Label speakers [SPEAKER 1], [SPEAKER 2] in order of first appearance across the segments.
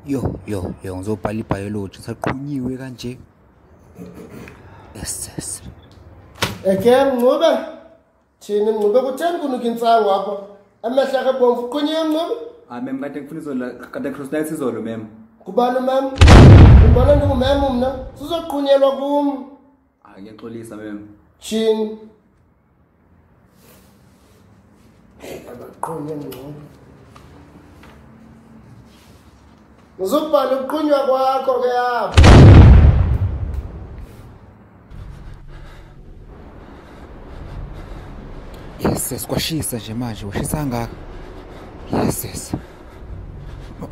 [SPEAKER 1] yo yo yo ngizobhala ibiology saqhunyiwe kanje yes yes ekem
[SPEAKER 2] ncube thini ncube kutheni kunuka intsango apho amehla akhe bomvu uqhunyiwe ncube hayi mem kade ngifuna
[SPEAKER 3] izolo kade cross night izolo mem kubani umem
[SPEAKER 2] umbona ndingumem mna sizoqhunyelwa kum Hayi ngiyaxolisa
[SPEAKER 3] mem. Chin.
[SPEAKER 2] Abaqonde ngcono. Ngizobhala ukuqunywa kwakho ke apho.
[SPEAKER 1] Yes, kwashisa nje manje, washisa kangaka. Yes, yes.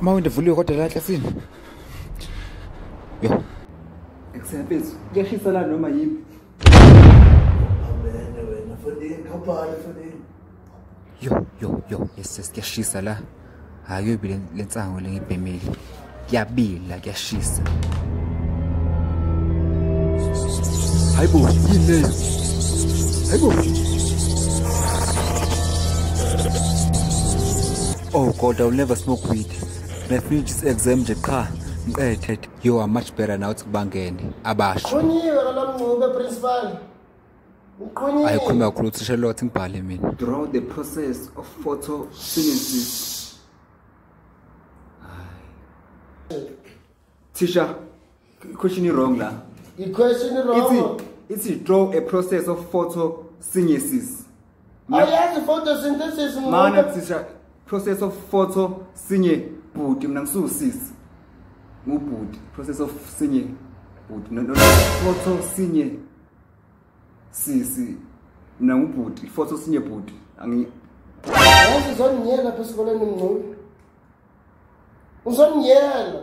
[SPEAKER 1] Mawinde vuliwe kodwa la ehlathini. Yo.
[SPEAKER 3] Ekusephezu
[SPEAKER 2] kuyashisa
[SPEAKER 1] la noma yini. Amen wena fondini khaphala fondini. Yo yo yo yes yes kuyashisa la. Hayi uyobe lensango lengibhemile. Kuyabila kuyashisa. Hayibo yini leyo? Hayibo. Oh God, I'll never smoke weed. Ngiyafinish exam nje qha ngiqethe. you are much better now ukuthi kubangene abasho qhunyiwe kalamncube
[SPEAKER 2] principal uqhunyiwe ayikhuluma kakhulu uthisha
[SPEAKER 1] lot ngibhale mina through the process
[SPEAKER 3] of photosynthesis thisha question wrong la i question wrong
[SPEAKER 2] it's, it's draw a
[SPEAKER 3] process of photosynthesis Awuyazi
[SPEAKER 2] photosynthesis mama. Mana kusisha
[SPEAKER 3] process of photo sinye bhuti mina ngisuwusisi. Ngubhuti process of sinye bhuti no photo sinye sisi mina ngubhuti photo sinye bhuti angi
[SPEAKER 2] Yazi zoniyela phesikoleni mngculu. Uzoniyela.